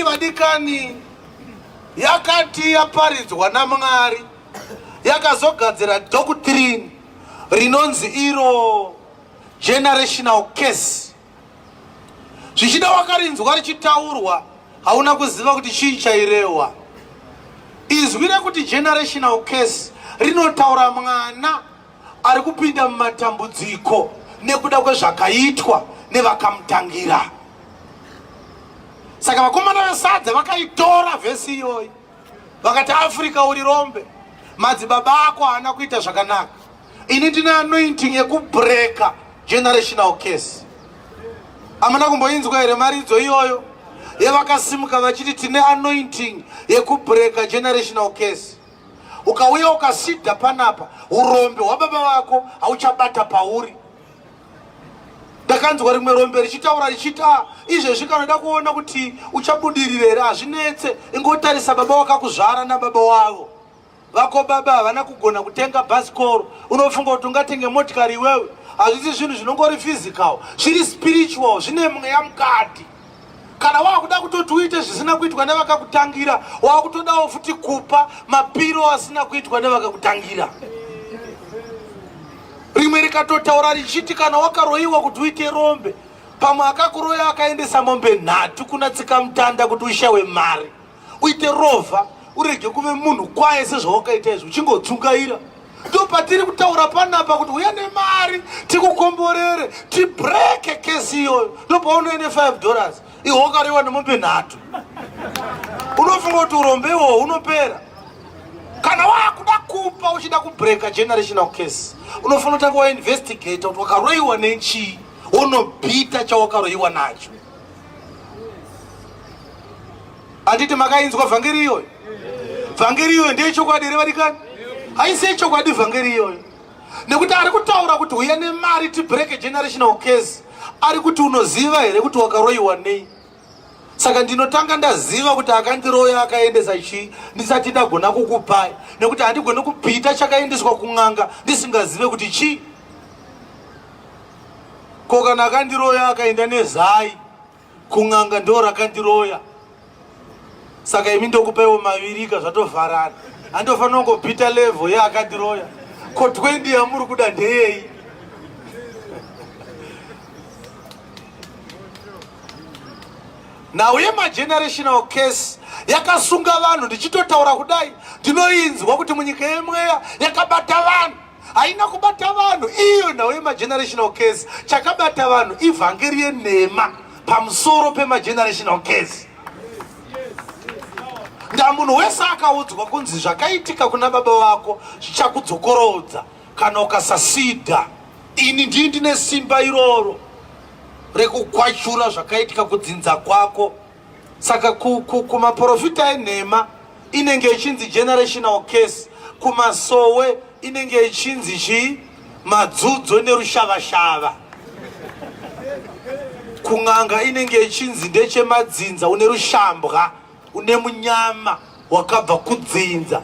vadikani yakati yaparidzwa namwari yakazogadzira doctrine rinonzi iro generational case zvichida wakarinzwa richitaurwa hauna kuziva kuti chii chairehwa izwi rekuti generational case rinotaura mwana ari kupinda mumatambudziko nekuda kwezvakaitwa nevakamutangira saka vakomana vesadza vakaitora vhesi iyoyi vakati africa uri rombe madzibaba ako haana kuita zvakanaka ini ndine anointing yekubreka generational case amana kumboinzwa here maridzo iyoyo yevakasimuka vachiti tine anointing yekubreka generational case ukauya ukasida panapa urombe hwababa vako hauchabata pauri ndakanzwa rimwe rombe richitaura richiti ah, izvezvi kana uda kuona kuti uchabudirire here hazvinetse ingotarisa baba wakakuzvara nababa wavo vako baba havana kugona kutenga bhasikoro unofunga kuti ungatenge motikari iwewe hazvisi zvinhu zvinongori physical zviri spiritual zvine mweya mukati kana wakuda kutoti uite zvisina kuitwa nevakakutangira wakutodawo futi kupa mapiro asina kuitwa nevakakutangira rimwe rikatotaura richiti kana wakaroyiwa kuti uite rombe pamwe akakuroya akaendesa mombe nhatu kuna tsikamutanda kuti ushawe mari uite rovha urege kuve munhu kwaye sezvawakaita izvi uchingodzungaira ndopatiri kutaura panapa kuti uya nemari tikukomborere tibreke kesi iyoyo ndopaunoende 5 dollars ihokarewa nemombe nhatu unofunga kuti urombe iwoho unopera kana wakuda kupa uchida kubreka generational case unofanira kutanga wainvestigata kuti wakaroyiwa nechii wonobhita chawakaroyiwa nacho Anditi makainzwa vhangeri iyoyo? Vhangeri iyoyo ndiye chokwadi here varikani? Haisi yechokwadi vhangeri iyoyo. Nekuti ari kutaura kuti huya nemari tibreak generational case. Ari kuti unoziva here kuti wakaroiwa nei? saka ndinotanga ndaziva kuti akandiroya akaendesa chii ndisati ndagona kukupai nekuti handigoni kupita chakaendeswa kun'anga ndisingazive kuti chii Ko kana akandiroya akaenda nezai kun'anga ndo rakandiroya saka imi ndokupaiwo mavirika zvatovharana andofanira kungopita level ye akandiroya ko 20 yamuri kuda ndeyeyi nhau yemagenerational case yakasunga vanhu ndichitotaura kudai ndinoinzwa kuti munyika yemweya yakabata vanhu haina kubata vanhu iyo nhau yemagenerational case chakabata vanhu ivhangeri yenhema pamusoro pemagenerational case ndamunhu wese akaudzwa kunzi zvakaitika kuna baba vako zvichakudzokorodza kana ukasasida ini ndii ndine simba iroro rekukwachura zvakaitika kudzinza kwako Saka kumaporofita ku, ku enhema inenge ichinzi generational case, kumasowe inenge ichinzi chii madzudzo nerushavashava kun'anga inenge ichinzi ndechemadzinza une rushambwa une munyama wakabva kudzinza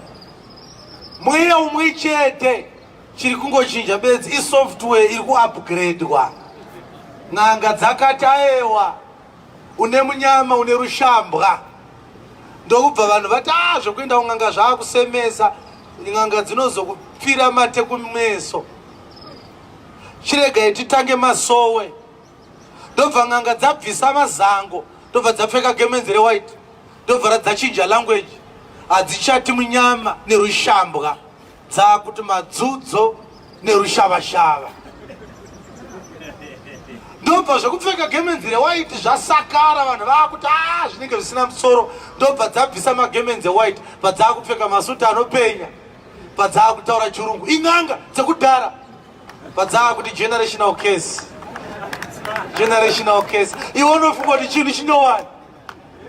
mweya umwe chete chiri kungochinja bedzi isoftware iri kuupgradwa n'anga dzakataewa une munyama une rushambwa ndokubva vanhu vati a ah, zvekuenda kun'anga zvaakusemesa n'anga dzinozokupfira mate kumeso chiregai titange masowe ndobva n'anga dzabvisa mazango ndobva dzapfeka gemenzi rewhite ndobva radzachinja language hadzichati munyama nerushambwa dzaakuti madzudzo nerushavashava ndobva zvekupfeka gemenzi rewhite zvasakara vanhu vaakuti a ah, zvinenge zvisina musoro ndobva dzabvisa magemenzi ewhite padzaakupfeka masuti anopenya padzaakutaura chirungu in'anga dzekudhara padzaakuti generational case generational case iwe unofunga kuti chinhu chinyowani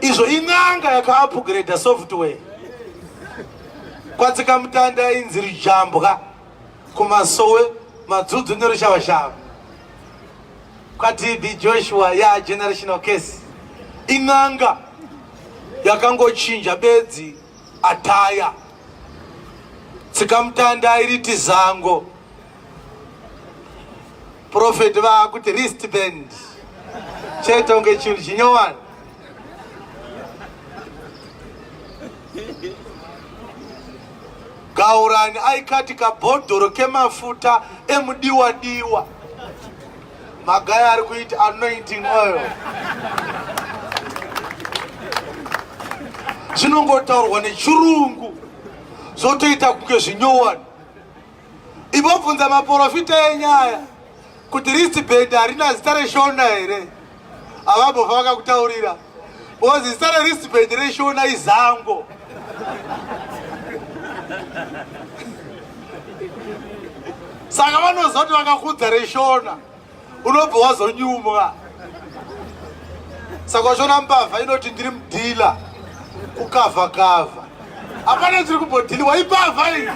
izvo in'anga yakaupgrade software kwatsika mutanda ainzi rujambwa kumasowe madzudzu nerushavashava kwatb joshua ya generational case in'anga yakangochinja bedzi ataya tsikamutanda iriti zango Prophet vakuti wristband chete unge chinhu chinyowani. Gaurani aikati kabhodhoro kemafuta emudiwa diwa. Magaya ari kuita anointing oil. Zvinongotaurwa nechirungu zvotoita kunge zvinyowani. Ibobvunza maporofita enyaya kuti rist band harina zita reshona here avambofa vakakutaurira ozi zita rerist band reshona izango saka vanozoti vakakudza reshona unobva wazonyumwa saka uchiona mbavha inoti ndiri mudhila kukavha kavha apana ndiri kumbodhiliwa imbavha iyi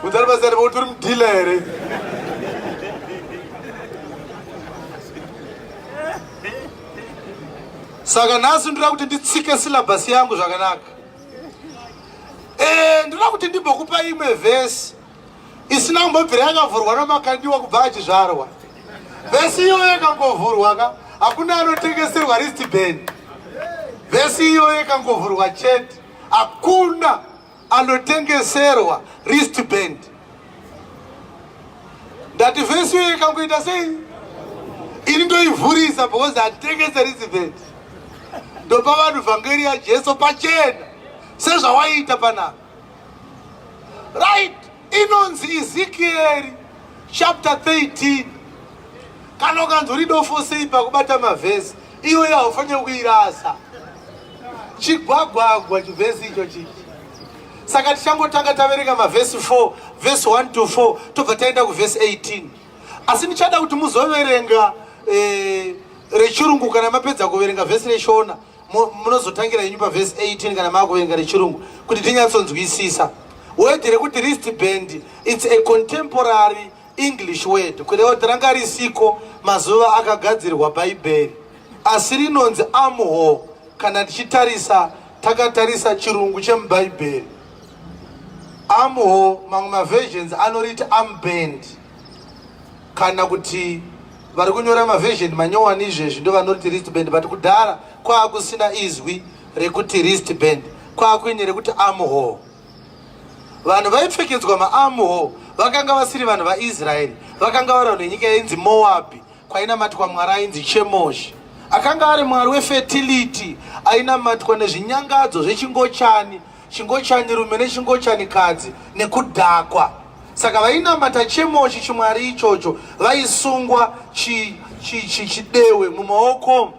udzari pasari voti uri mudhila here saka nhasi ndoda kuti nditsike silabhasi yangu zvakanaka Eh, ndinoda kuti ndimbokupa imwe vhesi isina kumbobvira yakavhurwa namakandiwa kubva achizvarwa vhesi iyoyo ikangovhurwa ka hakuna anotengeserwa ristband vhesi iyoyo ikangovhurwa chete hakuna anotengeserwa ristband ndati vhesi iyo ikangoita sei ini ndoivhurisa because handitengese receivent ndopa vanhu vhangeri yajesu pachena sezvawaiita panapa right inonzi ezekieri chapter 13 kana ukanzi uri dofo sei pakubata mavhesi iyoyo haufanire kuirasa chigwagwagwa chivhesi icho chii saka tichangotanga taverenga mavhesi 4 vhesi 1 to 4 tobva taenda kuvhesi 18 asi ndichada kuti muzoverenga eh, rechirungu kana mapedza kuverenga vhesi reshona munozotangira yenyu pavhesi 18 kana maakuverenga rechirungu kuti tinyatsonzwisisa wedhi rekuti rist band its a contemporary English word kureva kuti ranga risiko mazuva akagadzirwa bhaibheri asi rinonzi amho kana tichitarisa takatarisa chirungu chemubhaibheri amho mamwe maversions anoriti amband kana kuti vari kunyora maversion manyowani izvezvi ndo vanoriti rist band but kudhara kwaakusina izwi rekuti rist band kwaakuine rekuti amho vanhu vaipfekedzwa maamho vakanga vasiri vanhu vaisraeri vakanga vari vanhu venyika yainzi moabhi kwainamatwa mwari ainzi chemoshi akanga ari mwari wefetiliti ainamatwa nezvinyangadzo zvechingochani chingochani rume nechingochani kadzi nekudhakwa saka vainamata chemoshi chimwari ichocho vaisungwa chidewe mumaoko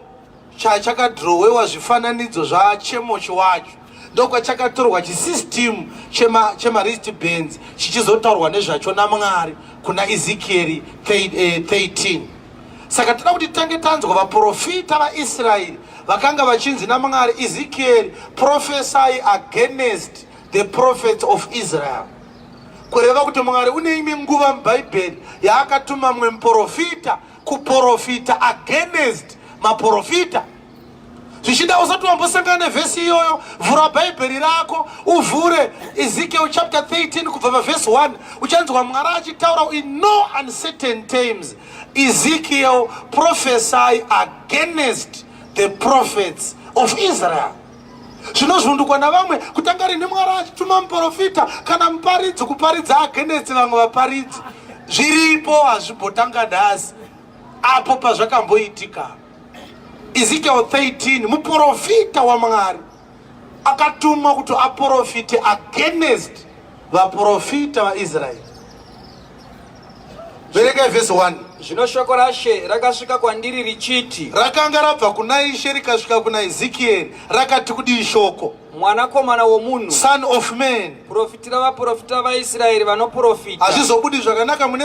chachakadhirowewa zvifananidzo zvachemochi wacho ndokwachakatorwa chisystem chemaristi chema bands chichizotaurwa nezvacho namwari kuna ezekieri 13 eh, saka toda kuti tange tanzwa vaprofita vaisraeri vakanga vachinzi namwari ezekieri profesai against the prophets of israel kureva kuti mwari une imwe nguva mubhaibheri yaakatuma mumwe muprofita kuporofita against maporofita zvichida usati wambosangana nevhesi iyoyo vhura bhaibheri rako uvhure ezekiel chapter 13 kubva pavhesi 1 uchanzwa mwari achitaura in no uncertain times ezekiel prophesy against the prophets of israel zvinozvundukwa navamwe kutanga rini mwari achituma muprofita kana muparidzi kuparidza agenesi vamwe vaparidzi zviripo hazvimbotanga nhasi apo pazvakamboitika ezekiel 13 muprofita wamwari akatumwa kuti aprofite agenest vaprofita vaisraeri veregai vhesi 1 zvino shoko rashe rakasvika kwandiri richiti rakanga rabva kuna ishe rikasvika kuna ezekieri rakati kudii shoko mwanakomana womunhu son of man profitira vaprofita vaisraeri vanoprofita hazvizobudi zvakanaka mune